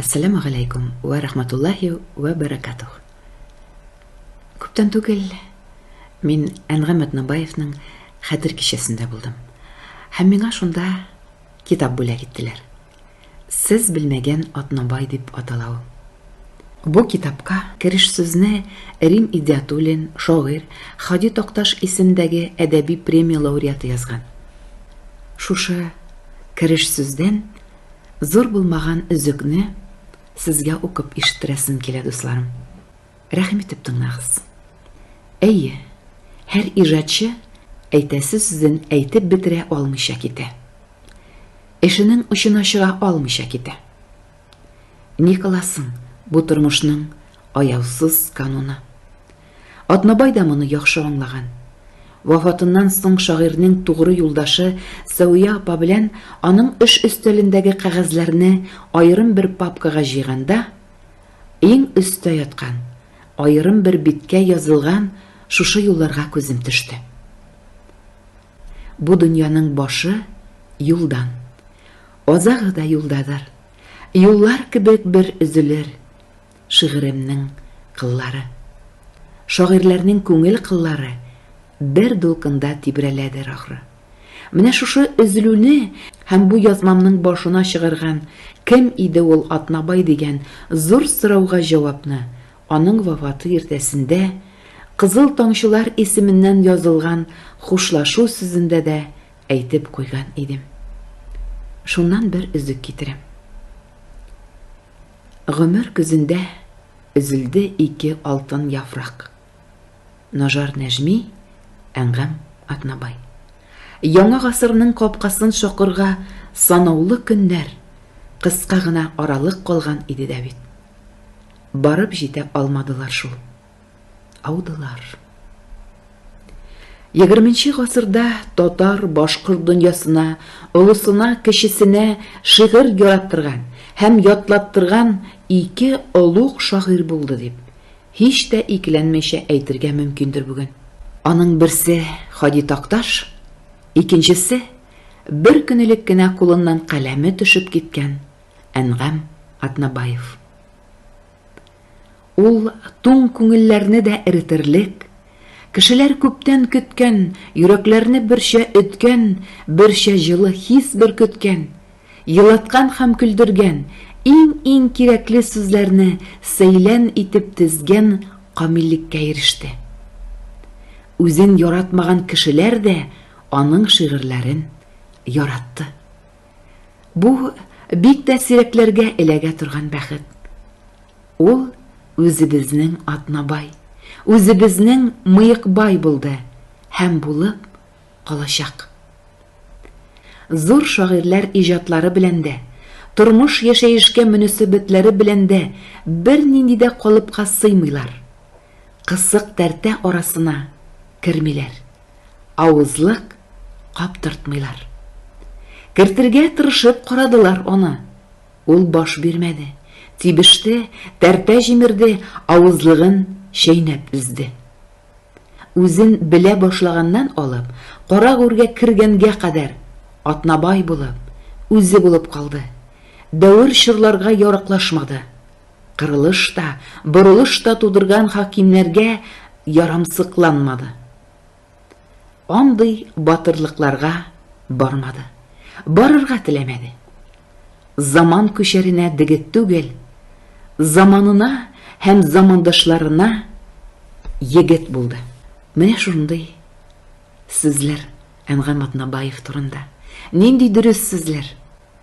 Әссәламү галәйкүм вә рахматуллаһи вә бәрәкатүһ! Күптән түгел мин Әнгам Атнабаевның Хәтер кичәсендә булдым һәм миңа шунда китап бүләк иттеләр. Сез белмәгән Атнабай дип атала ул. Бу китапка кереш сүзне Рим Идиатуллин, шагыйрь, Һади Такташ исемендәге әдәби премия лауреаты язган. Шушы кереш сүздән Зур булмаган өзекне сезгә укып ишеттерәсем килә, дусларым. Рәхим итеп тыңлагыз. Әйе, һәр иҗатчы әйтәсе сүзен әйтеп бетерә алмыйча китә. Эшенең очына чыга алмыйча китә. Николасын бу тормышның аяусыз кануны. Атнабай да моны яхшы аңлаган. Вафатыннан соң шагыйрьнең тугры юлдашы Сәвия апа белән аның эш өстәлендәге кәгазьләрне аерым бер папкага җыйганда, иң өстә яткан, аерым бер биткә язылган шушы юлларга күзем төште. Бу дөньяның башы, юлдан. Азагы да юлдадыр. Юллар кебек бер өзелер. Шигыремнең кыллары. Шагыйрьләрнең күңел кыллары бер дулкында тибрәләдер, ахры. Менә шушы өзелүне һәм бу язмамның башына чыгарган Кем иде ул Атнабай дигән зур сорауга җавапны аның вафаты иртәсендә Кызыл тамчылар исеменнән язылган хушлашу сүзендә дә әйтеп куйган идем. Шуннан бер өзек китерәм. Гомер көзендә өзелде ике алтын яфрак. Нажар Нәжми, Әнгам Атнабай. Яңа гасырның капкасын шакырга санаулы көннәр, кыска гына аралык калган иде дә бит. Барып җитә алмадылар шул. Аудылар. Егерменче гасырда татар башкорт дөньясына, олысына, кечесенә шигырь яраттырган һәм ятлаттырган ике олуг шагыйрь булды дип, һич тә икеләнмичә әйтергә мөмкиндер бүген. Аның берсе Хади Такташ, икенчесе бер көн элек кенә кулыннан каләме төшеп киткән Әнгам Атнабаев. Ул туң күңелләрне дә эретерлек, кешеләр күптән көткән, йөрәкләрне берчә өткән, берчә җылы хис бөркеткән, елаткан һәм көлдергән, иң-иң кирәкле сүзләрне сәйлән итеп тезгән камиллеккә иреште. Үзен яратмаган кешеләр дә аның шигырьләрен яратты. Бу бик тә сирәкләргә эләгә торган бәхет. Ул үзебезнең Атнабай, үзебезнең Мыекбай булды һәм булып калачак. Зур шагыйрьләр иҗатлары белән дә, тормыш яшәешкә мөнәсәбәтләре белән дә бернинди дә калыпка сыймыйлар, кысык тәртә арасына кермиләр. Авызлык каптыртмыйлар. Кертергә тырышып карадылар аны. Ул баш бирмәде. Тибеште, тәртә җимерде, авызлыгын чәйнәп өзде. Үзен белә башлаганнан алып, кара гүргә кергәнгә кадәр Атнабай булып, үзе булып калды. Дәвер чорларга яраклашмады. Кырылыш та, борылыш та тудырган хакимнәргә ярамсыкланмады. Андый батырлыкларга бармады. Барырга теләмәде. Заман күчәренә дегет түгел, заманына һәм замандашларына егет булды. Менә шундый сүзләр Әнгам Атнабаев турында. Нинди дөрес сүзләр!